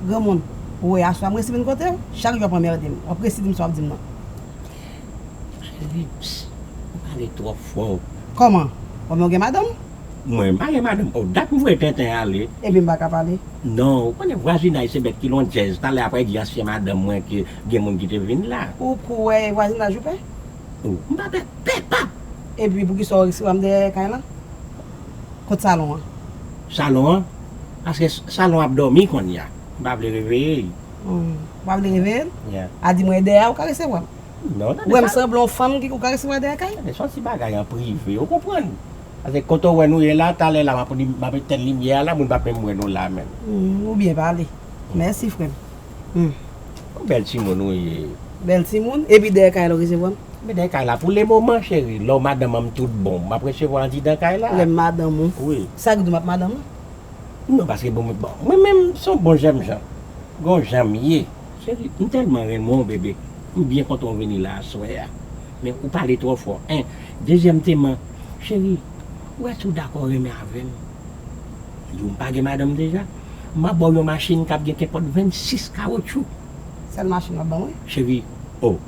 Granmoun, ou wè aswè m resi vin kote w, chak jou w ap anmerde m. W ap resi di m sa w ap di m nan. Chérie, pss, ou pale twòp fò. Kòman? Ou pa wè m gen madanm? Mwen maye madanm oh dat m voye tenten ale. Ebyen m pa ka pale. Non ou konnen vwazinaj se bèt ki londjèz talè aprè di ansyen madanm mwen ke gen moun ki te vin la. Ou kwè e vwazinaj ou pè? Ou m pa pè pè pap. Epi poukisa ou resi wè m dèyè kay lan? Kot salon an? Salon an? Paske salon ap dòmi konnya m pa vle reveye l. Ou pa vle reveye l? Yeah. A di mwen e dèyè a ou ka resi wè m? Non tande sa. Wè m sanble yon fanm ki ou ka resi wè dèyè kay? Tande son ti bagay an prive ou konprann. Pase kote ou wè nou ye la talè la map etenn limyè a la moun pap menm wè nou la menm. Ou byen pale. Mèsi frèm. Ou bèl timoun ou ye. Bèl timoun. Epi dèyè kay la ou resevwa m? Mwen dèyè kay la pou le moman cheri. Lè w madanm an m tout bon. Map resevwa w andidan kay la. Lè m madanm ou. Wi. Sa ki di w map madanm ou? Non paske bon mwen menm son bon jènjan. Gon jan m ye. Cheri m tèlman renmen w bebe m byen kontan w vini la aswè a men ou pale twò fò 1 dezyèm teman cheri ou èske ou dakò renmen avè m m di w m pa gen madanm deja m ap ba w yon machin k ap gen kenpòt 26 kawotchou Sèl machin w ap ban mwen? Cheri oh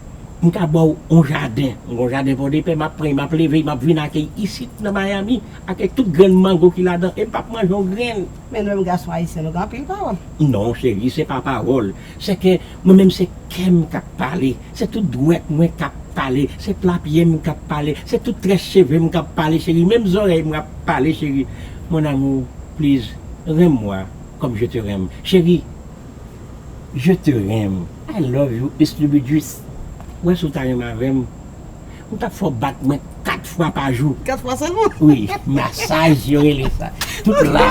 m ka ba w yon jaden m gen yon jaden pòdepè m ap pran e m ap leve e m ap vin ak e isit nan Miami ak e tout grenn mango ki ladan e m p ap manje yon grenn. Men nou menm gason ayisyen nou gen anpil pawòl. Non cheri se pa pawòl se ke mwen menm se kèm kap pale se tout dwèt mwen kap pale se pla pyem kap pale se tout très chevem kap pale cheri menm zòrèy mwen ap pale cheri mon amour please renmn mwa kòm je te renmn cheri je te renmn I love you estlibidjis wè si w ta renmn avèm. Ou tap fè w bat mwen 4 fwa pa jou. 4 fwa sèlman? Wi, masaj yo rele sa. Tout la.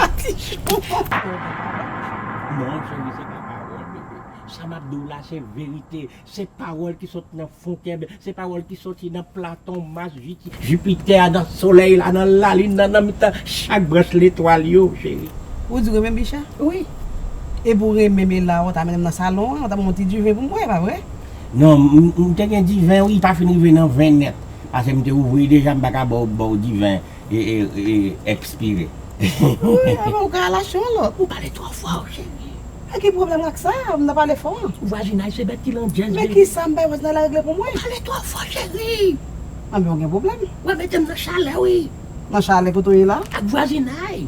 Non cheri se pa pawòl bebe. Sa map di w la se verite. Se pawòl ki sot nan fon kè m. Se pawòl ki soti nan Platon, Mas, Jipitè, nan solèy la, nan lalin nan, nan mitan chak branch letwal yo cheri. Ou di w renmen m Bicha? Wi. Epi w renmen m e la ou ta mennen m nan salon an, ou ta ban mwen yon ti diven pou m bwè, e pa vre? Non, m te gen diven wi, pa fin rive nan 20 nèt, pase m te ouvri deja m pa ka baw baw diven expire. Ou ka al achte yon lòt. Ou pale twò fò cheri. E ki pwoblèm ak sa, m nan pale fò. Vwazinay se bèt ki landjèz baby. Men kisa m bay vwazinay la regle pou mwen. Ou pale twò fò cheri. Anben ou gen pwoblèm. Wap mete m nan chalè wi. Nan chalè kote w ye la. Ak vwazinay.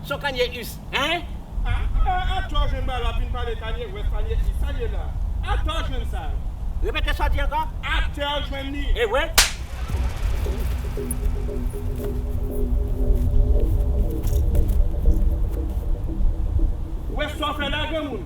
Son kanye us hein. Ah ah atò jèn ba lap vin pale kanye west kanye east sa ye la atò jèn sa yo. Repete sa w di ankò. Atè w jwenn li. Ewe. Wè sa w fè la granmoun.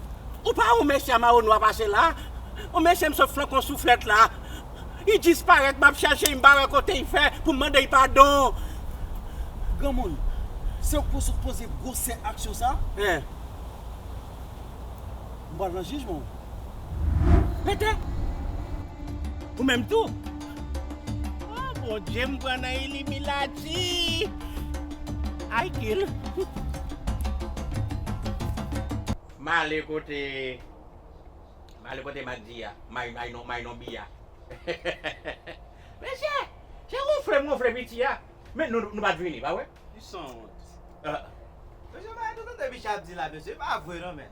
Ou pa yon mesye a mawo nwa pase la Yon mesye m sot flank yon souflèt la Li disparèt m ap chèche li m pa wè kote li fè pou m mande li padon Granmoun Se ou k pou sot poze gwosè aksyon sa a M pral nan jijman ou Pete Ou menm tou Oh Bondye m pran nan ilimilat. Ti Aykil. M ale kote M ale kote Mak di a May non may non bi a Mesye Se wonfle m wonfle piti a Men nou nou pa t vini pa wè Li sanwont Mesye m pa janm tande Bicha ap di la mesye e pa vre non men.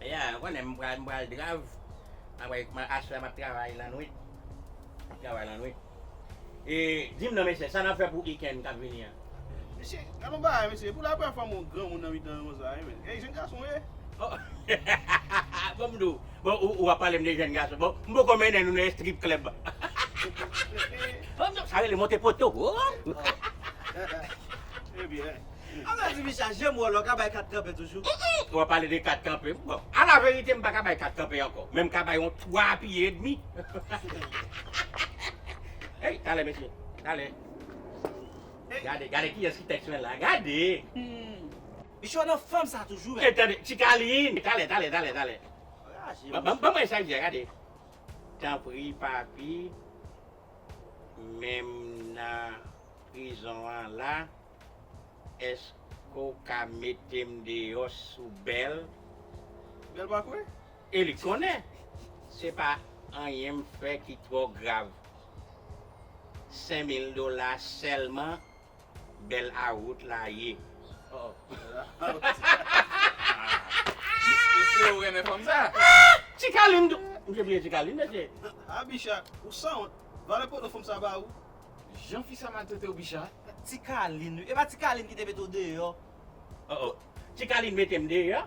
Yeah, ou konnen m pral m pral drav aprè m aswè map travay lannwit map travay lannwit e dim non mesye sa nap fè pou ikenn kap vini an? Mesye gad yon bagay mesye epou la premyè fwa m wè yon granmoun nan mitan nou konsa wi menn e jenn gason w ye? Oh bon m di w bon ou ap pale m de jenn gason bon m poko mennen nou nan estrip klèb oh non sa rele monte poto oh. Ebyen. An mèd wi Bicha, jem wè w la, w ka bay 4 kanpe toujou. Ou ap pale de 4 kanpe, bon. A la verite m pa ka bay 4 kanpe ankò, men m ka bay yon 3 pye edmi. Ey, talè mesye, talè. Gade, gade kiyès ki tèks mwen la, gade! Bicha w nan fòm sa toujou menm. Ey tande, ti Kalin, talè, talè, talè, talè. Raje m. Ban mwen sa l di a, gade. Tanpri papi, menm nan prizon an la. Eske w ka mete m deyò sou bèl? Bèl pa kwè e li konnen se pa anyen m fè ki twò grav. Sen mil dola sèlman bèl a wout la ye. Mesye ou renmen fanm sa? Ti kalin tou! M te bliye ti kalin mesye. Ha Bicha, ou sanwont. Valè poto fanm sa ba ou? Jan fi sa mal tretew bicha. Ti kalin wi epa ti kalin ki te mete w deyò. Oh oh ti kalin metem deyò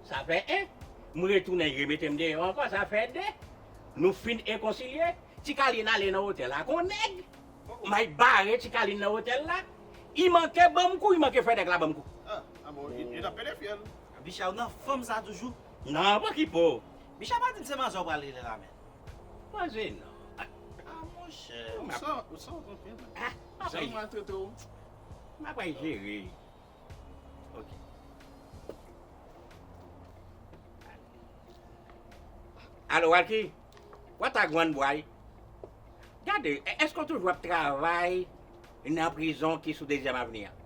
sa fè 1 m retounen yo metem deyò ankò sa fè 2 nou fin ekonsilye ti kalin ale nan otèl ak on nèg Mike bare ti kalin nan otèl la I manke banm kou I manke fè nèg la banm kou. Ah bon yo tap pede fyèl. Bicha ou nan fanm sa toujou. Nan pou ki po. Bicha pa dim se manzè ou pral rele la men. Pa jennen non. A monchè. Sa ou sa ou pran pen nan. Ah pa bay. Jan mal trete ou. Map bay jere. Ok. Alo Walky. Watagwan bway. Gade eske ou toujou ap travay nan prizon ki sou dezyèm avni an?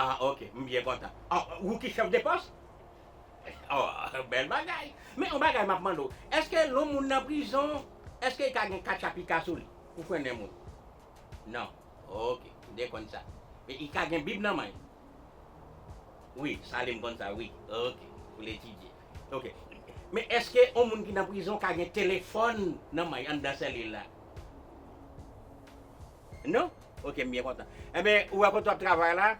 Ah ok m byen kontan. Ou ki chèf de pòs? Aww bèl bagay men yon bagay map mande w eske lon moun nan prizon eske li ka gen katcha pika sou li pou frennen moun nan ok m te konn sa men li ka gen bib nan men l wi sale m konn sa wi ok pou l etidye ok men eske yon moun ki nan prizon ka gen telefòn nan men l anndan selil la non ok m byen kontan enben ou wè kote wap travay la.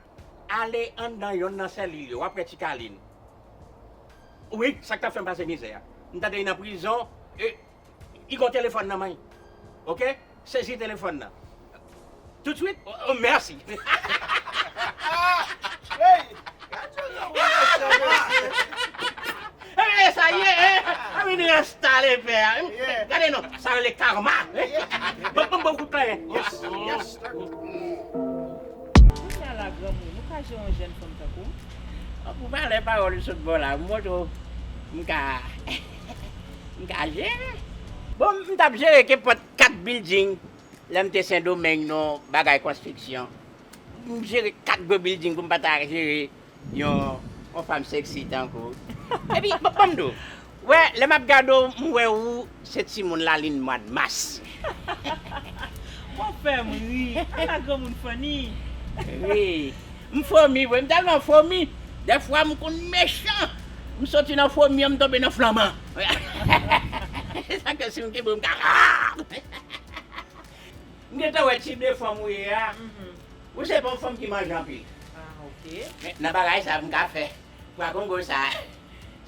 Ale anndan yonn nan sèlil yo, w ap wè ti Kalin. Wi, sa k t ap fè m pase mizè a. M tande li nan prizon, e li gen yon telefòn nan men l. Ok, sezi telefòn nan. Toutswit? O, mèsi! Enben, sa ye, an vin enstale pè a. Gade non, sa rele karma! Bon, ban m yon kout kanyen. Kounya la granmoun ou ka jere yon jèn fanm tankou m? Bon pou valè pawòl ou sot ba w la ou montre w m ka m ka jere. Bon m tap jere kenpòt 4 bilding lè m te sendomeng nan bagay konstriksyon. M jere 4 gwo bilding pou m pa ta jere. Yon fanm sexy tankou w. Epi banm di w, wè lè map gade w m wè ou se timoun lalin mwad mas. Wap fè m ri, ala granmoun funny. Wi, m fomi vre, m tèlman fomi, dèfwa m konn mechan, m soti nan fomi an m tonbe nan flanman. Sa ke si m kenbe w m ka. M gentan wè tip de fanm ou ye a, ou se pa yon fanm ki manje anpil. Men nan bagay sa m ka fè pwa kongo sa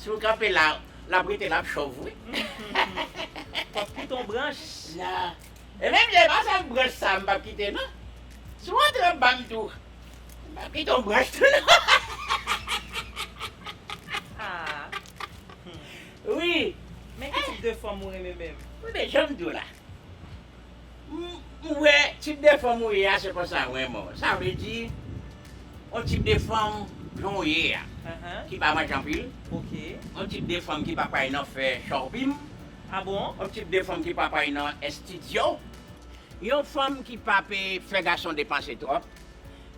si w kanpe la l ap rete l ap chòv wi. Ou ap kite yon branch. Nan. E menm se pa sèl branch sa m p ap kite non. Si w antre anba m tou m ap kite yon branch tou non. Wi. Men ki tip de fanm ou renmen menm? Wi men jan m di w la. M wè tip de fanm ou ye a se konsa wè mwen. Sa vle di yon tip de fanm jan w ye a ki pa manje anpil, yon tip de fanm ki pa pray nan fè chòpin, yon tip de fanm ki pa pray nan estidyo, yon fanm ki pa pe fè gason depanse twòp,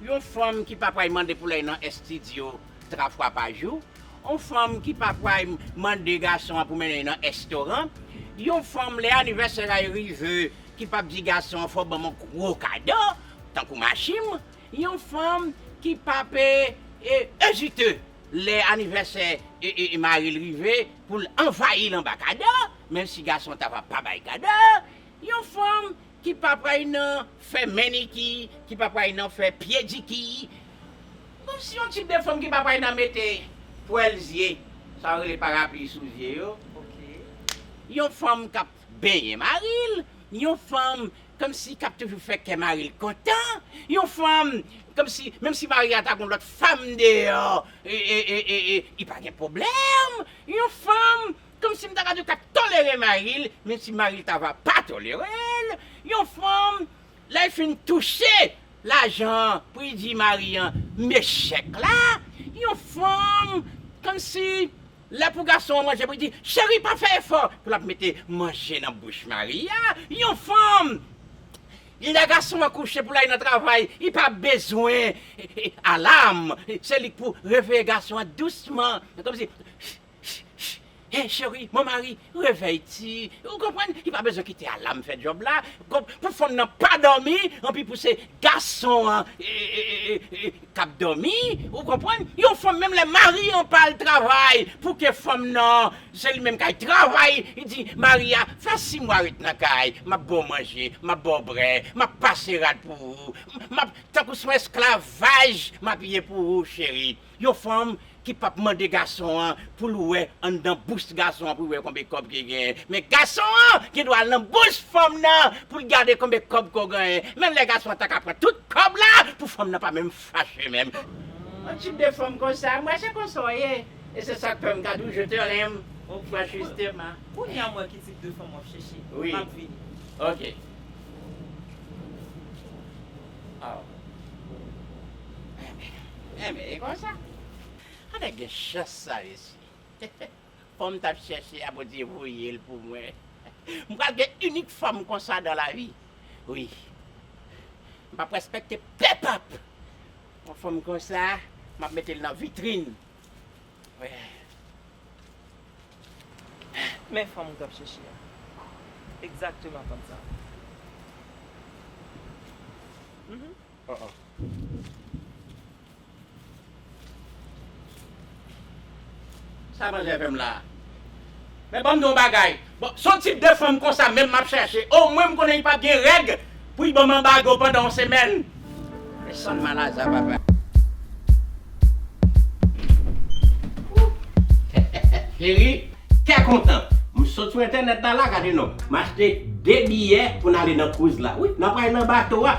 yon fanm ki pa pray mande pou l al nan estidyo. 3 fwa pa jou, yon fanm ki pafway mande gason an pou mennen li nan èstoran, yon fanm lè anivèsè la yo rive ki pap di gason an fòw banm yon gwo kado tankou machim, yon fanm ki pap ezite lè anivèsè maril rive poul anvayil anba kado menm si gason ta va pa bay kado, yon fanm Ki pa pray nan fè mèniki, ki pa pray nan fè pyediki. Bon si yon tip de fanm ki pa pray nan mete pwèl zye, sa yo rele parapli sou zye yo. Yon fanm k ap benyen mari l, yon fanm kòmsi k ap toujou fè kè mari l kontan, yon fanm kòmsi menm si mari a ta gon lòt fanm deyò, li pa gen pwoblèm, yon fanm Komsi m ta ka di w k ap tolere mari l menm si mari l ta va pa tolere l. Yon fanm lè l fin touche lajan an pou li di mari an m e chèk la. Yon fanm komsi lè pou gason an manje pou li di cheri pa fè efò pou l ap mete manje nan bouch mari a. Yon fanm lè gason an kouche pou l ale nan travay li pa bezwen alam se li k pou reveye gason an dousman komsi. Shh Hey chérie, mon mari, revèy ti Ou konprann, li pa bezwen kite alam fè djòb la Pou fanm nan pa dòmi Anpi pou se gason an k ap dòmi Ou konprann Yon fanm menm lè mari an pa al travay Pou ke fanm nan Se li menm k al travay Li di mari a Fè si mwa ret nan kay M ap ba w manje M ap ba w bre M ap pase rad pou ou M ap Tankou s on esklavaj M ap ye pou ou chérie Yon fanm ki pap mande gason an poul wè anndan bous gason an poul wè konbe kòb ki genyen men gason an gen dwa al nan bous fanm nan poul gade konbe kòb ko genyen menm lè gason an taka pran tout kòb la pou fanm nan pa menm fache menm Yon tip de fanm konsa mwen se konsa w ye e se sak fèm ka diw je te renmn ok franchustement. Kounye a m wè ki tip de fanm wap chèche. Map vini. Ok. Oh. Enben. Enben, e konsa? An nèg gen chans sa resi. Fanm m t ap chèche a Bondye voye l pou mwen. M pral gen inik fanm konsa dan lavi. Wi. M p ap respekte pèpap. Yon fanm konsa, m ap mete l nan vitrin. Men fanm ou tap chèche a. Exactement fanm sa. Mph. Sa manje avèm la. Men banm di yon bagay. Bon son tip de fanm konsa menm map chache o mwen m konnen li pap gen règ pou li banm anbago pandan yon semèn men sanm mal a za papa. Cheri kè kontan m sot sou entènèt la la gade non m achte 2 biyè pou n ale nan cruise la wi n ap pral nan bato a.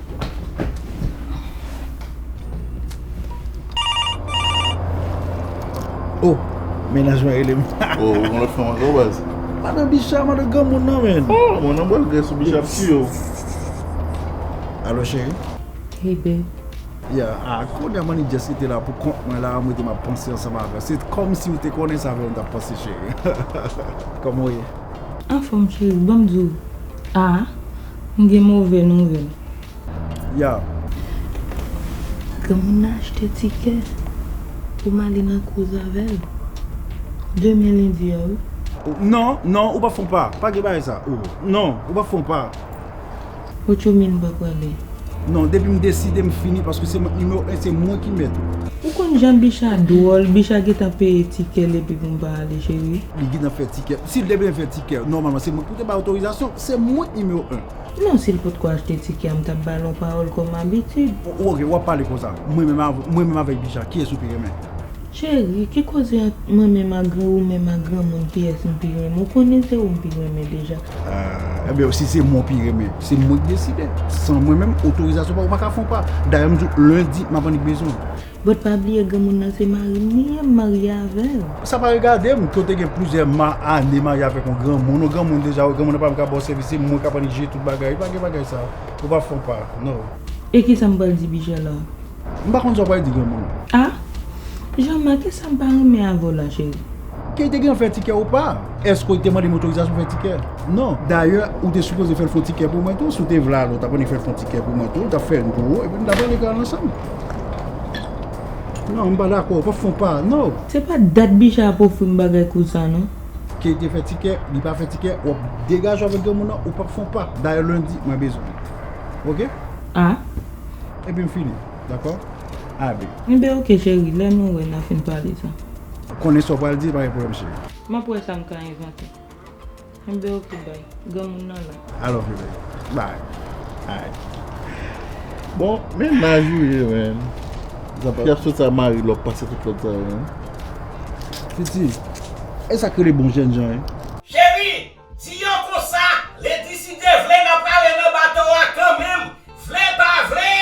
Oh, menaj mwen rele m. Oh, ou mwen fè mwen gò baz. Madan Bicha, madan gò moun nan men. Oh, mwen nan bòl gè sou Bicha pti yo. Alo cheri. Hey babe. Ya, a kou dè mani jès kite la pou kont mwen la, mwen te map panse ansanm avè. Se kòm si ou te konnen sa vè mwen tap panse cheri. Kòman ou ye? Anfòm cheri, banm di w. Ah. M gen move nouvèl. Yow. Granmoun nan achte tikè pou m ale nan kouz avè l. Demen lendi a wi. Oh non, non ou pap fon pa. Pa gen bagay sa. Oh non ou pap fon pa. Ou tjou min m pa prale. Non depi m deside m fini paske se mwen nimewo 1 se mwen ki mèt. Ou konn jan Bicha dwòl, Bicha gentan peye tikè l epi pou m pa ale cheri. Li gentan fè tikè. Si l te byen fè tikè nòmalman se mwen ki pou te bay otorizasyon. Se mwen ki nimero 1. Non sil potko achte ticket a m tap bal yon pawol kom abitid. Oh ok wap pale konsa. Mwen menm a mwen menm avek bicha kiyes ou pi renmen. Cheri ki koze ant mwen menm a gran ou menm a gran moun kiyes m pi renmen ou konnen se ou m pi renmen deja. Ahh ebyen si se mwen w pi renmen se mwen ki deside san mwen menm otorizasyon pa ou pa ka fon pa dayè m di w lundi map annik bezwen w. But pa bliye granmoun nan se marim li ye m marye avel. Sa pa regadem, ke w te gen plizyè ma ane marye avèk yon granmoun, yon granmoun deja wè granmoun nan pa menm ka baw sèvis se mwen kap annik jije tout bagay, pa gen bagay sa, ou pa fon pa, no. E kisam pral di Bijou la? M pa konn sa w pral di granmoun. Ah! Jama kesam pa renmen avèw la cheri? Ke li te gen fè tikè ou pa, eske w te mandem otorizasyon fè tikè? No. Dayè ou te sipoze fèl fon tikè pou mwen tou, si w te vle al ou tap annik fèl fon tikè pou mwen tou, li tap fè n gou epi nou tap ale kay ou ansanm. Non m pa dakò ou pa fon pa non. Se pa dat bicha ap ofri m bagay konsa non. Kay te fè tikè li pa fè tikè wap degaje w avèk granmoun nan ou pap fon pa dayè lundi mwen bezwen l ok. Ah. Epi m fini dakò Aby. Enben ok cheri lè nou wè na fin pale sa. Ou konnen sa w pral di e pa gen pwoblèm cheri. Map wè sa m ka envante. Kenbe ok bby. Granmoun nan la. I love you baby. Bye. Alright. Bon men naj ou ye men. Zan yap sot sa mari lòk pase tout lòt sa yo. Titi. Esak rele bon jènjan ye. Cheri, di yo konsa, Lady si Dye vle nap ale nan bato a kanmenm, vle pa vle,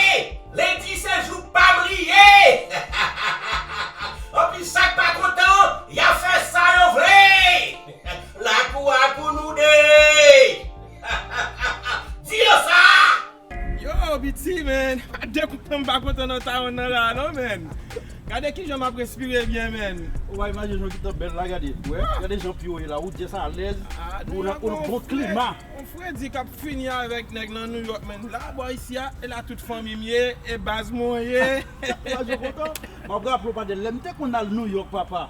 Lady se jou pam li ye hahahahaha, anpi sak pa kontan an yap fè sa yo vle. Lakou a pou nou 2 Di yo sa! Yo BT man pa de kou tanm pa kontan nan taon nan la non man Gade kijan map respire byen man Waww imajine jan kitan bèl la gade Gade jan pye w ye la ou just alèz ou nan on bon klima. On fredi kap fini avèk nèg nan New York man La bò isi a e la tout fanmi m ye e baz mwen ye. Imajine w kontan Map raple w pa de lèm te konn al New York papa.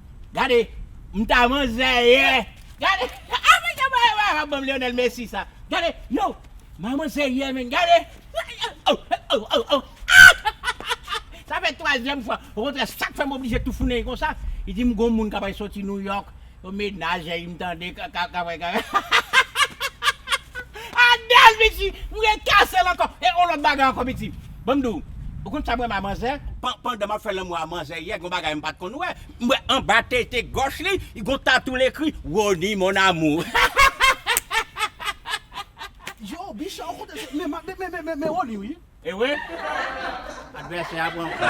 Gade m ta van zèyè gade ah men gade bagay wap banm Lionel Messi sa gade yow manman zèyè men gade oh oh oh ahh sa fè twazyèm fwa okontrè sak fèm oblije toufounen konsa li dim gon moun kapral soti New York yon menaj eim tande kapral ahh Adèl pitit m gen kè sèl ankò e yon lòt bagay ankò pitit. Banm diw, ou konn sam renmen a manzè? Pandan map fè lanmou a manzè yè gon bagay mpat konn wè, mwè anba tete gòch li gon tatou l ekri Rony mon amour hahahahaha. Yo bicha ou kote se men map men men men Rony wi. Ewe advèsè a pran kou.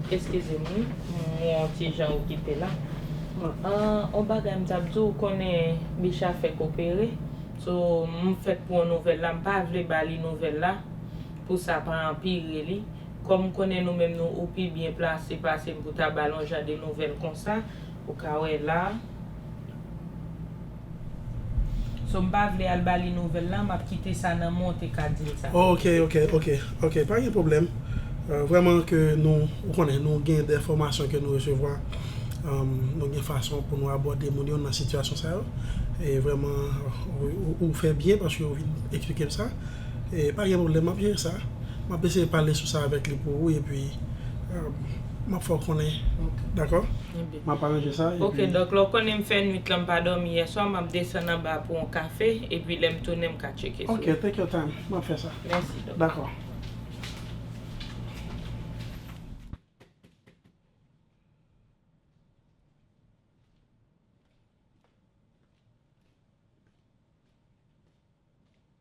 Eskizem wi mon ti jan okipe la ahh on bagay m tap diw ou konnen Bicha fèk opere so m fèk pran nouvèl la m pa vle ba li nouvèl la pou sa pa anpire li kòm m konnen nou menm nou ou pi byen plase pase m pou ta bal on jan de nouvèl konsa ou ka wè la. So mpa vle al bali nouvel la map kite sa nan menw te ka dil sa. Ok ok ok ok pa gen pwoblèm vrèman ke nou ou konnen nou gen dè fòmasyon ke nou resevwa nou gen fason pou nou abòde moun yo nan sitiyasyon sa yo e vrèman ou fè byen paske ou vin eksplikem sa e pa gen pwoblèm map jere sa map eseye pale sou sa avèk li pou ou epi map fèw konnen dakò. Map aranje sa epi. Ok dòk lè w konnen m fè nwit lan m pa dòmi yèswa map desann anba pou on kafe epi lè m tounen m ka tcheke sou. Ok take your time map fè sa. Mèsi dòk. Dakò.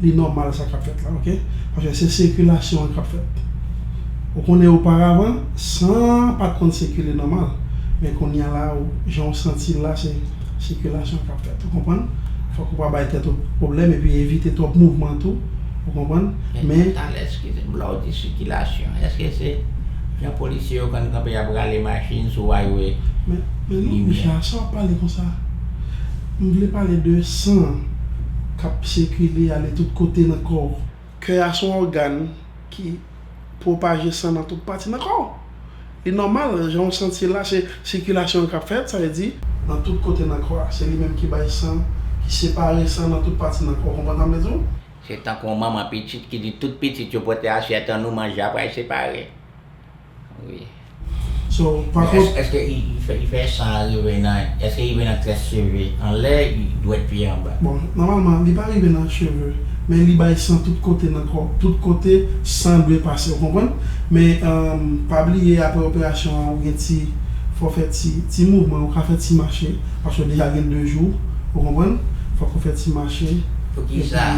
Li nòmal sa kap fèt la ok paske se sikilasyon an kap fèt ou konnen oparavan san an pat konn sikile nòmal men kounya la ou jan ou santi l la se sikilasyon kap fèt ou konprann fòk ou pa bay tèt ou pwoblèm epi evite twòp mouvman tou ou konprann men. Atann eskize m lè w di sikilasyon eske se jan polisye yo konn kanpe yap rale machin sou aywe men non limyè. Richard sa wap pale konsa m vle pale de san an. k ap sikile ale tout kote nan kò w. Kè a se yon ògàn ki pwopaje san nan tout pati nan kò w. Li nòmal, jan w santi la, se sikilasyon an k ap fèt, sa vle di, nan tout kote nan kò a, se li menm ki bay san, ki separe san nan tout pati nan kò w, konprann sa m vle di w? Se tankou yon manman pitit ki di tout pitit yo pote asyèt an nou manje aprè y separe. Wi. So pa kont. Men eske li fè san an rive nan, eske li rive nan tres cheve anlè, dwèt pye anba? Bon nòmalman li pa rive nan cheve men li bay san tout kote nan kò, tout kote san dwe pase ou konprann? Men pa bliye aprè operasyon an ou gen ti fò fè ti ti mouvman ou ka fè ti mache paske ou deja gen 2 jou ou konprann? Fòk ou fè ti mache. Poukisa?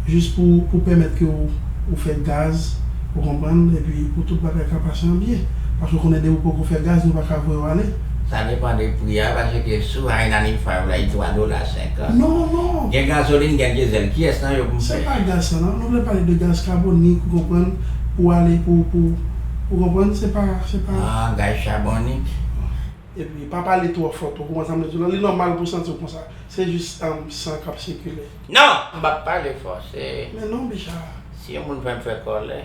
Epi jis pou pèmèt ke ou fè gaz. Ou konprann? Epi pou tout bagay ka pase an byen. Paske ou konnen depi ou poko fè gaz nou pa ka voye w ale. Sa depan de pri a wi paske sou Hainanese Fire la li 3 dola 50. Non, non! Gen gazolin gen diesel kiyès nan yo pou m Se fè? pa gaz sa nan. Nou vle pale de gaz kabonik ou konprann pou ale pou pou ou konprann se pa se pa. Ah gaz chabonik. Epi pa pale twò fò tou, ou konprann sa m vle di w la? Li nòmal pou w santi w konsa. Se jis san k ap sikile. Non! M p ap pale fò. Se. Men non, Bicha! Si yon moun fè m fè kòlè.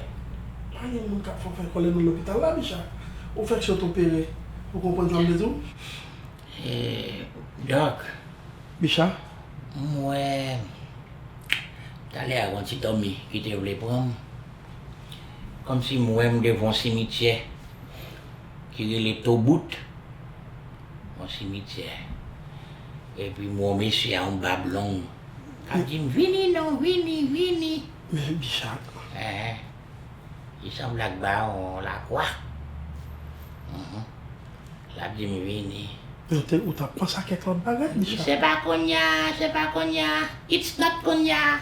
Pa gen moun k ap fè w fè kòlè nan lopital la, Bicha. Ou fèk sot opere. Ou konprann sa m vle di w? E, dòk. Bicha? M wè. Talè a, gon ti dòmi ki te vle pran m. Kòmsi m wè m devan yon simityè. ki rele Tobout, yon simityè. Epi m wè yon mesye a yon bab long k ap di m, Vini non, vini, vini. Men bi sa. Enhen. Li sanble ak bawon Lakwa. Enhen. L ap di m vini. Men te, ou t ap panse a kèk lòt bagay, bi sa. Se pa kounye a, se pa kounye a. It's not kounye a.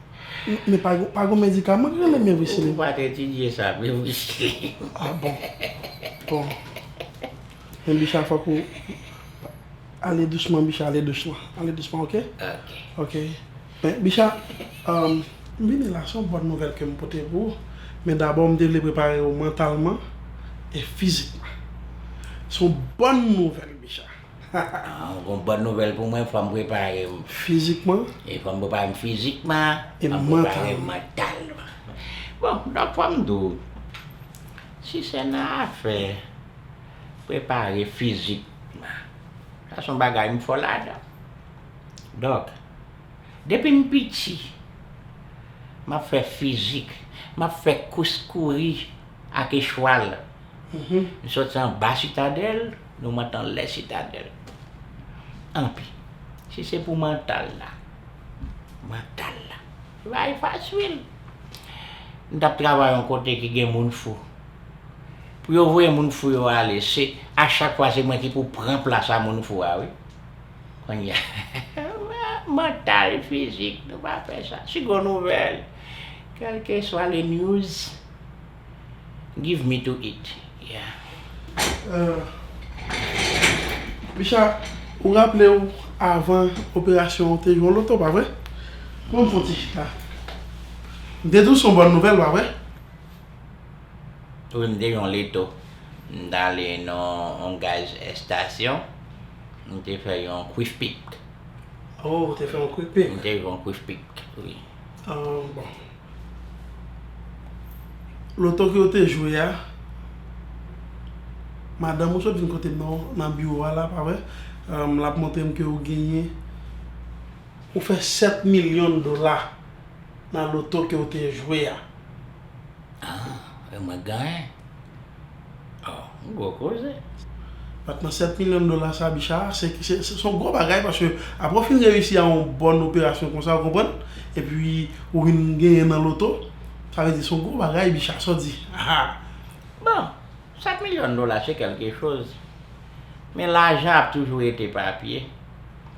Men pa gon pa gon medikaman ki rele Mevrisilin. Ou pa te etidye sa Mevrisilin. Ah bon. Bon. Men Bicha fòk ou ale dousman Bicha ale dousman. Ale dousman ok. Ok. Ok. Men Bicha emm. M vini la se yon bòn nouvèl ke m pote pou ou. Men dabò m te vle prepare ou mantalman e fizikman. Se yon bòn nouvèl Bicha. Hahaha. Ou gon bòn nouvèl pou mwen, fòm prepare m. Fizikman. E fòm prepare m fizikman. E mantalman. Fòm prepare m mantalman. Bon, dòk fòm di w, si se nan afè prepare fizikman, sa son bagay m fò ladan. Dòk, depi m piti, m ap fè fizik, m ap fè kous kouri ak echwal Nou soti anba sitadèl, nou monte anlè sitadèl. Anpi, si se pou mantal la, mantal la, se pa bagay fasil. M t ap travay yon kote ki gen moun fou. Pou yo voye moun fou yo ale, se a chak fwa se mwen ki pou pran plas a moun fou a wi. Kounye a, mantal, fizik, nou pa fè sa. Seconde nouvelle, kèlkeswa le news. Give me to eat yeah. Bicha ou raplew avan operasyon ou te jwe loto pa vre? Bon m fon ti chita. M te diw son bòn nouvèl pa vre? Wi m te jwe loto. M t ale nan yon gaz estasyon m te fè yon kwif pik. Oh ou te fè yon kwik pik. M te jwe yon kwif pik wi. Bon. Loto ke ou te jwe a, madanm ou sot vin kote m nan, nan biwo a la, pa vre? L ap montre m ke ou genyen, ou fè 7 milyon dola nan loto ke ou te jwe a. Ah, e mwen ganyen? Aww gwo koze. Patnè 7 milyon dola sa bicha se son gwo bagay paske apre ou fin reyisi a yon bòn operasyon konsa ou konprann epi ou vin genyen nan loto sa vle di son gwo bagay bicha sa w di aa. Bon 7 milyon dola se kelke choz men lajan ap toujou rete papye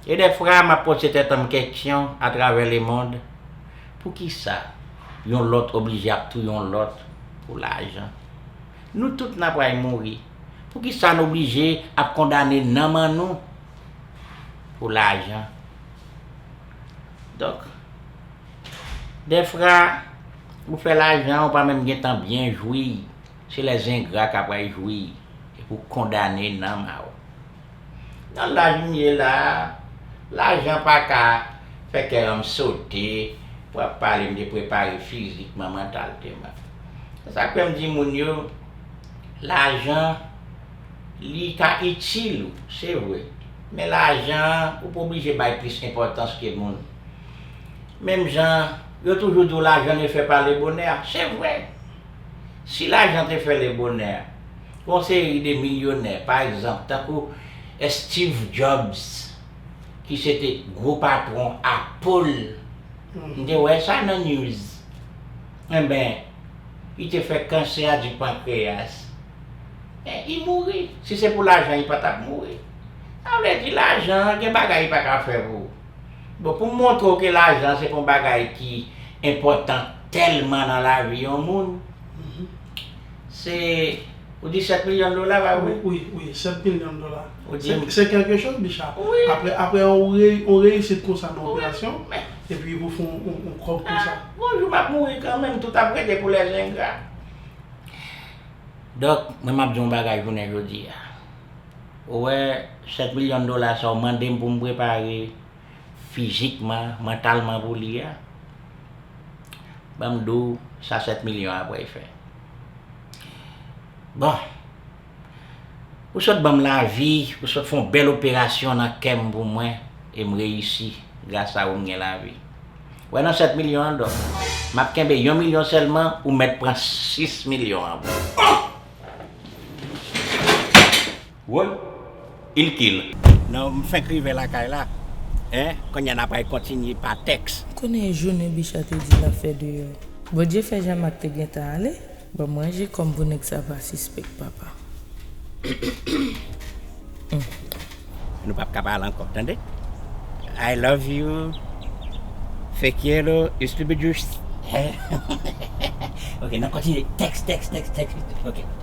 e dèfra map poze tèt anm keksyon atravè lemond Poukisa yon lòt oblije ap touye yon lòt pou lajan? Nou tout n apral mouri, poukisa n oblije ap kondane nanm an nou pou lajan? Donk, dèfra, ou fè lajan, ou pa menm gen tan byen jwi, se lè zengra k apral jwi epi w kondane nanm a ou. Nan laj m ye la a, lajan pa ka fè kè an m sote pou ap pale m te prepare fizikman, mantalteman. Se sa k fè m di moun yo, lajan li ka itil ou, se vre, men lajan an ou pa oblije bay plis enpòtans ke moun. Menm jan yo toujou di w lajan ne fait pas le bonheur, se vre! Si lajan te fè lebonè, Yon seri de milyonè, pa egzanp, tankou Steve Jobs, ki se te gwo patwon Apple, m te wè sa nan news, enben, li te fè kansè di pankreyas, men li mouri. Si se pou lajan li pa t ap mouri. Sa vle di lajan an gen bagay li pa ka fè pou ou. Bon, pou m montre w ke lajan se pa yon bagay ki enpòtan tèlman nan lavi yon moun, Se, ou di 7 milyon dola la wi. Wi, wi, 7 milyon dola. Ou di. Se kèlke chòz Bicha. Wi. Aprè yon reyisit konsa nan operasyon. Wi, men. Epi pou fè yon kòb konsa. A, bon jou m ap mouri kanmenm, tout ap rete pou lè zengra. Dòk, mwen m ap di w yon bagay jounen jodi a. Ou wè 7 milyon dola sa ou mande m pou m prepare. fizikman, mantalman pou li a, ban m di w sa 7 milyon an ap refè. Bon, ou sot ban m lavi, ou sot fè yon bèl operasyon nan kè m pou mwen e m reyisi, gras a ou m gen lavi. Wè nan 7 milyon an dòk, m ap kenbe yon milyon sèlman, ou mèt pran 6 milyon an pou ou. Woy il kill. Non m fenk rive lakay la hein kounya na pral kontinye pa teks. M konnen e jounen Bicha te di lap fè deyò. Bondye fè Jean Marc te gentan ale. Banm ranje kòm pou nèg sa pa sispèk papa humm. Nou pap ka pale ankò tande. I love you Fe quiero estupiduste. Ok nan kontinye teks teks teks teks ok.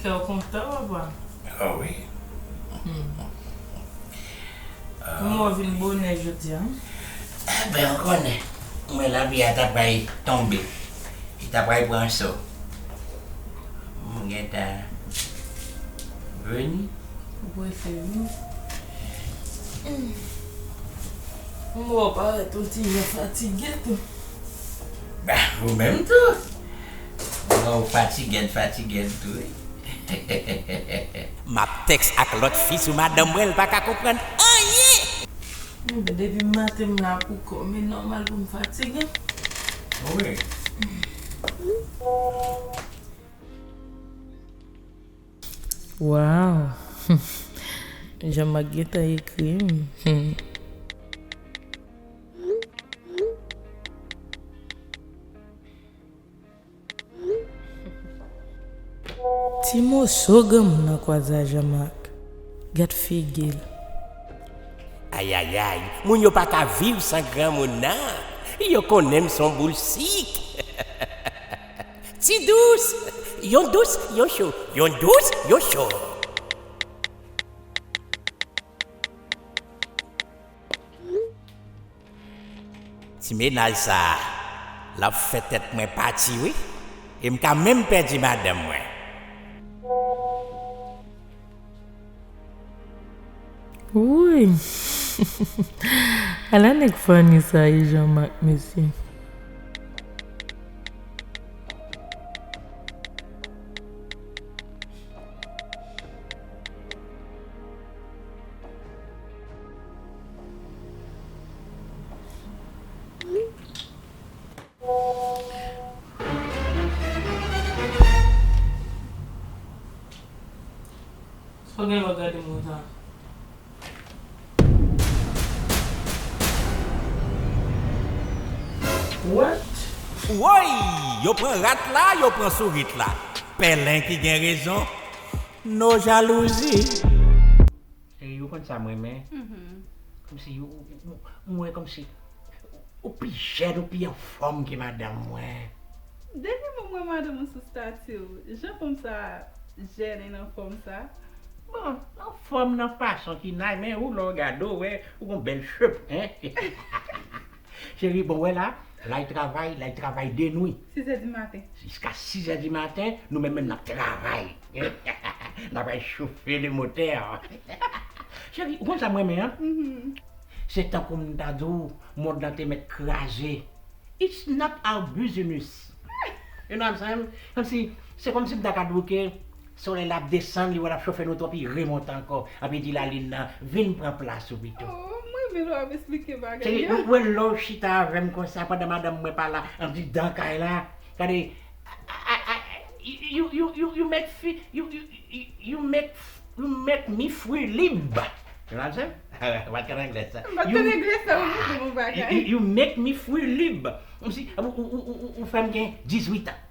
Kè w kontan papa? Oh wi. Kouman w vin bonè jodi a? Enben ou konnen, mwen lavi a ta pral tonbe, li ta pral pran so. Mwen gen tan vini. Ou prese vini. M wè w parèt yon ti jan fatige tou. Bah ou menm tou. M wè w fatigèd fatigèd tou wi. Map tex ak lot fi sou madanm mwen l paka konprann anyen. M di depi m maten m la pou kò m e nòmal pou m fatige. Wi. Waww humm Jean Marc gentan ekrim humm. Ti moso granmoun nan kwaze a Jean Marc gad figil. Ayayay moun yo paka viv san granmoun nan yo konnenm son boul sik. Ti dous, yon dous, yon cho, yon dous, yon cho. Ti mennaj sa, l ap fè tèt mwen pati wi, e m ka menm pèdi madanm mwen. Wouyy ala nèg funny sa ye Jean Marc mesye. Woy! Yo pran rat la, yo pran sourit la. Pèlen ki gen rezon. No jalouzi. Chérie ou konn sa m renmen Komsi m wè komsi ou pi jèn ou pi anfòm ke madanm mwen. Depi mwen m wè madanm ou sou stati w jan fanm sa jèn and anfòm sa. Bon anfòm nan fason ki nay men ou lè w gade w wè ou gon bèl cheveux hein. Cheri bon wè la, lay travay, lay travay denwi. 6 è di maten. Jiska 6 è di maten, nou menm menm n ap travay. N ap al chofe le motè. Cheri, ou konn sa m renmen an? Se tankou m ta di w mond lan te mèt kraze. It's not our business. You know what I'm saying? Kòmsi, se kòmsi m ta ka di w ke Solèy la ap desann li wè lap chofe nou twòp li remont ankò api di lalin nan vin pran plas ou pito. Ooh m renmen lè wap esplike bagay yo. Cheri mwen love chita avèm konsa pandan madanm mwen pala ap di dan kay la gade you make fi you make me free lib se pa sa m pa t konn anglè sa you make me free lib ou fèm gen 18 ans.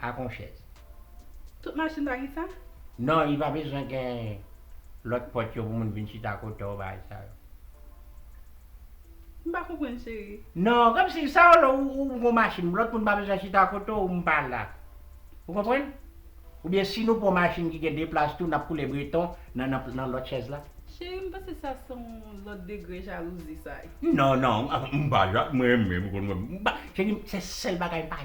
ak yon chèz. Tout machin pa gen sa? Non, li pa bezwen gen lòt pòt yo pou moun vin chita kote w bagay sa yo. M pa konprann cheri. Non, kòmsi sa w lè ou gen yon machin, lòt moun pa bezwen chita kote w, m pa la. Ou konprann? Oubyen si nou pran yon machin ki gen 2 plas tou n ap koule breton nan lòt chèz la? Cheri, m panse sa se yon lòt degre jalouzi sa. Non, non, m pa ja, m renmen, m konn m pa, cheri m se sèl bagay m pa.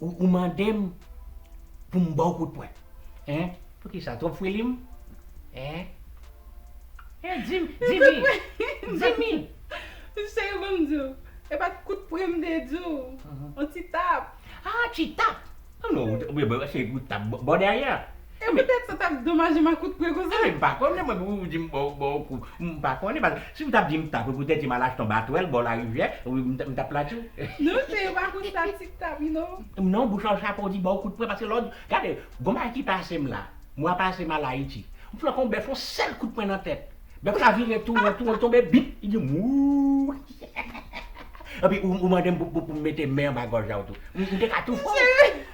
Ou mandem pou m baw kout pwen hein. Poukisa trop fre lim hein. Hein dim dimi dimi. Ou se yo banm diw. E pat kout pren m te diw. On ti tap. Ah ti tap. Ou tap bon dèyè. E petèt sa tap domaje makout pre konsa. Enben m pa konnen mwen pou ou di m ba w ba w kou. M pa konnen paske si w tap di m ta pre poutèt si m al achte yon batwèl bò larivyè wi m ta plat tou. Non se yo pa konn sa tit tap wi non. Non bouch la w chape w di ba w kout pre paske lè w di gade gon bagay ki pase m la mwa pase m al Ayiti m flanke yon bèf yon sèl kout pre nan tèt bèf la vire tou won tou won l tonbe bip li di m wouuyy epi ou mande m pou m mete men anba gòj la w tou m te ka tou fò w.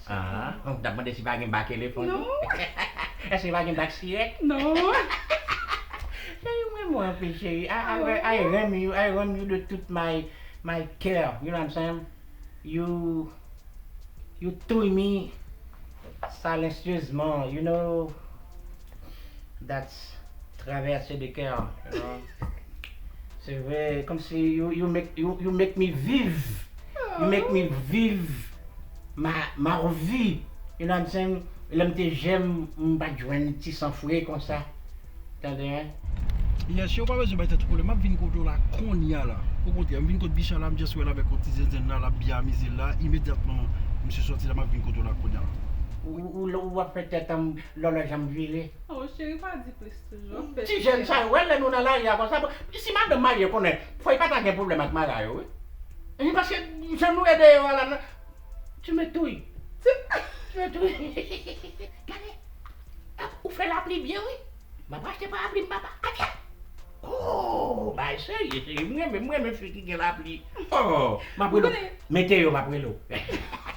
Aah ou tap mande si pa gen bak elefan tou? Non. Eske pa gen bak sirèt? Non. Chérie mrenmen w anpil chérie I I re I renmn you I renmn you de tout my my coeur you know what I'm saying you you touy me silencieusement you know that's traverse de coeur you know se vre komsi you you make you you make me viv you make me viv Marvy you know what I'm saying lèm te jèn m pat jwenn ti san fre konsa tande hein. Yes yow pa bezwen bay tèt ou pwoblèm map vin kote w la konnya la okontrè m vin kot Bicha la m just wèl avèk yon ti zenzenn la lap byen amize l la imedyatman misye sòti la map vin kote w la konnya la. Ou wap fè tèt an lòlòj an vire. Oh cheri pa di plis. Ti jèn sa yo wè lè nou nan lari a konsa bon si madanm marye konnen fòy pata gen pwoblèm ak mara yo wi ui paske jan nou ede yo a la nan tu me touy tu me touy gade ou fè lapli byen wi map achte parapli m papa atcha ooh bagay serye cheri m renmen m renmen fi ki gen lapli ooh map rele w mete yo map rele w.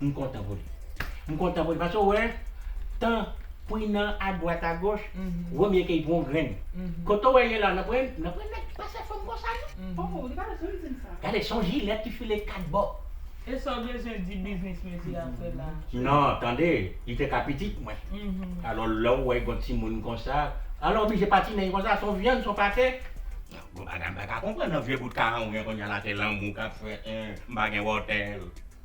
M kontan pou li. M kontan pou li paske ou wè tan Prina a dwat a goch wè byen ke li pran yon grenn. Kote ou wè ye la nan pran nan pran nèg ki pa sè fanm konsa non. Oh li pa bezwen di m sa. Gade son jilèt ki file 4 bò. E sa w bezwen di biznis mezi a fè la. Non tande li te ka pitit mwen. Alò lè ou wè gon timoun konsa alò oblije patine li konsa son vyann son pate. Gon bagay m pa ka konprann nan vye bout karan ou gen kounya la se lanmou kap fèt m pa gen wòtèl.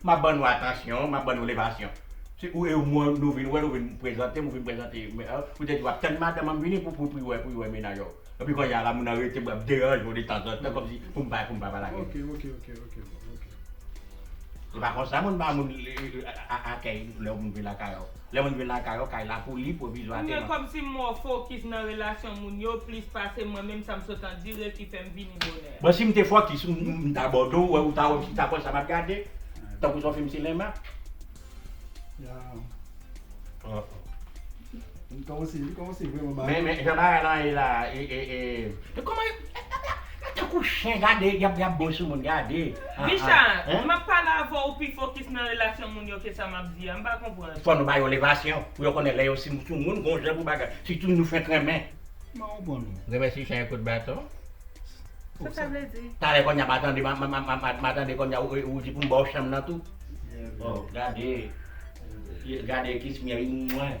M ap ban nou atansyon, m ap ban nou levasyon. Se ou e ou mwen nou vin wè, nou vin prezante m, ou vin prezante m. Ou te di w ap tann madanm an vini pou pou wè pou wè mennaj ou. Epi kounye a la moun nan rete m ap deranje w detanzantan kòmsi pou m pa pou m pa pale ak li. Se pa konsa moun ba moun akèy lè moun vin lakay ou. Lè moun vin lakay ou, kay la pou li, pwovizwa te Mwen kòmsi m mò fokis nan relasyon moun yo plis pase mwen menm sa m sot andire ki fè m vini bonè. Bon si m te fokis m m ta bòdò w ou ta wè m chita bò sa m ap gade tankou s on fim sinema. Men jan bagay lan ye la e e e. Yo tankou chen gade yap yap bon sou moun gade aa. Bicha, map pale avè w pi fokis nan relasyon moun yo ke sa map di a, m pa konprann. Fò nou ba yo levasyon pou yo konnen lè yo si sou moun gon jan pou bagay sitou nou fenk renmen. Kman ou bon menm? Renmen si chen e kout baton. Sa sa vle di? Talè konnya ma tande ma tande konnya ou di pou m ba w chanm nan tou. Bon gade gade kismyerim mwen.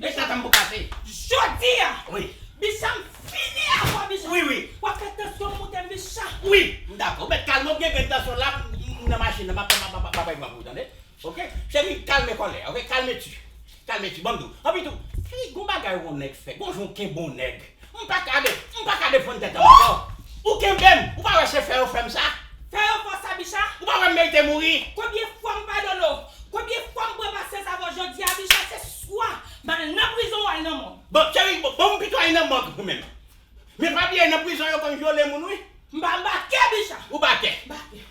Men sa tanbou ka fè. Jodi a Wi. Bicha m fini avè w Bicha. Wi wi. W ap fè tansyon m moute m Bicha. Wi. M dakò. Ou mèt kalme w m gen grenn tansyon la m nan machin nan m ap pran m ap pran pou ou tande. Ok. Cheri kalme kòlè a ok. Kalme tu. Kalme tu. Ban m di w. Anpi tou si gon bagay w on nèg fè gon jan w kenbe on nèg M pa ka de, m pa ka defann tèt m ankò. Ou kenbe m, ou pa wè se fè yo fè m sa. Fè yo fè w sa Bicha? Ou pa wè m merite mouri. Konbyen fwa m padone w? Konbyen fwa m pran pasyans avè w jodi a Bicha se swa m al nan prizon ou al nan mòg. Bon cheri, bon m pito al nan mòg pou mwen menm. Men pa bliye nan prizon yo konn vyole moun wi. M pa, m bakè Bicha. Ou bakè? M bakè.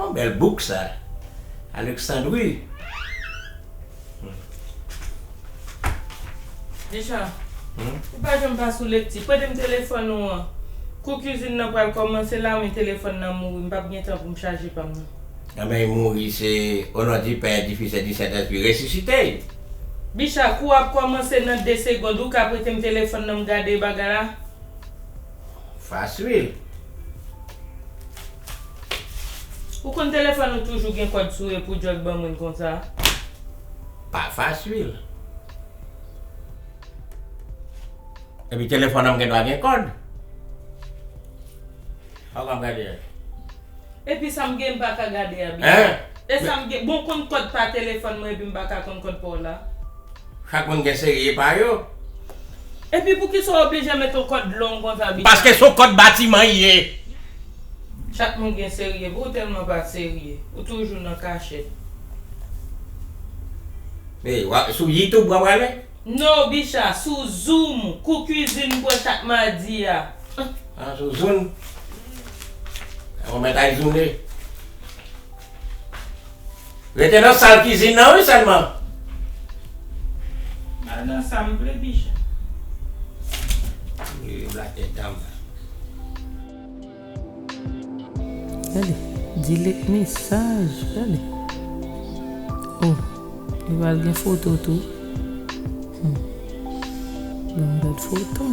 Yon bèl bouk sa Alexandre wi. Richard, ou pa janm pa sou lekti. Prete m telefòn ou an. Kou kizin nan pral kòmanse la men telefòn nan mouri. M pap gen tan pou m chaje pa m nan. Lanmè y mouri se O non di Pè, di Fis e di Sentespri. Resisite y! Bicha, kou a ap kòmanse nan de segond. Ou ka prete m telefòn nan m gade bagay la? Fas ui. Ou konn telefòn ou toujou gen kòd sou e pou jòj ban moun konsa. Pa fas ui. Epi telefòn an m gen dwa gen kòd. Fòk map gade. Epi sa m gen m paka gade a byen. Hein? E sa m gen, bon w konn kòd pa telefòn mwen epi m paka konn kòd pa w la? Chak moun gen serie pa yo. Epi poukisa w oblije met yon kòd long konsa Bicha? Paske son kòd batiman l ye. Chak moun gen serie pa w, ou tèlman pa serye. Ou toujou nan kachèt. Hey, wap, sou yitoub wap ale? No bicha sou zoom kou cuisine mwen chak madi a. An sou zoun Ou mèt ay zoune Rete nan sal kizin nan wi sèlman. Mal nan sa m vle bicha. Li rele black tèt dam. Gade, Dilettni saj, gade. Oh, li pral gen foto tou. Hum. Banm gad foto.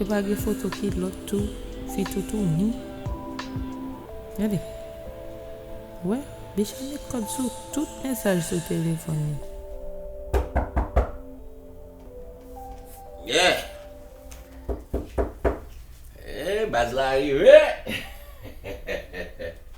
Epa gen foto kilot tou fi toutou hmi gade wè bicha met kod sou tout mesaj sou telefon li. Yeah Eehh baz la rive.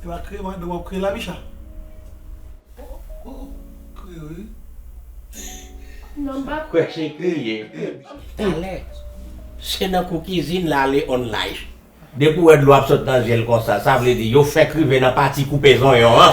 E pa kriye madanm wap kriye la Bicha? Ou kriye wi. Non m pa kwè se kriye. Talè se nan kou kizin la ale on live. Depi ou wè dlo ap sot nan zyel konsa sa vle di yo fèk rive nan pati koupe zonyon an.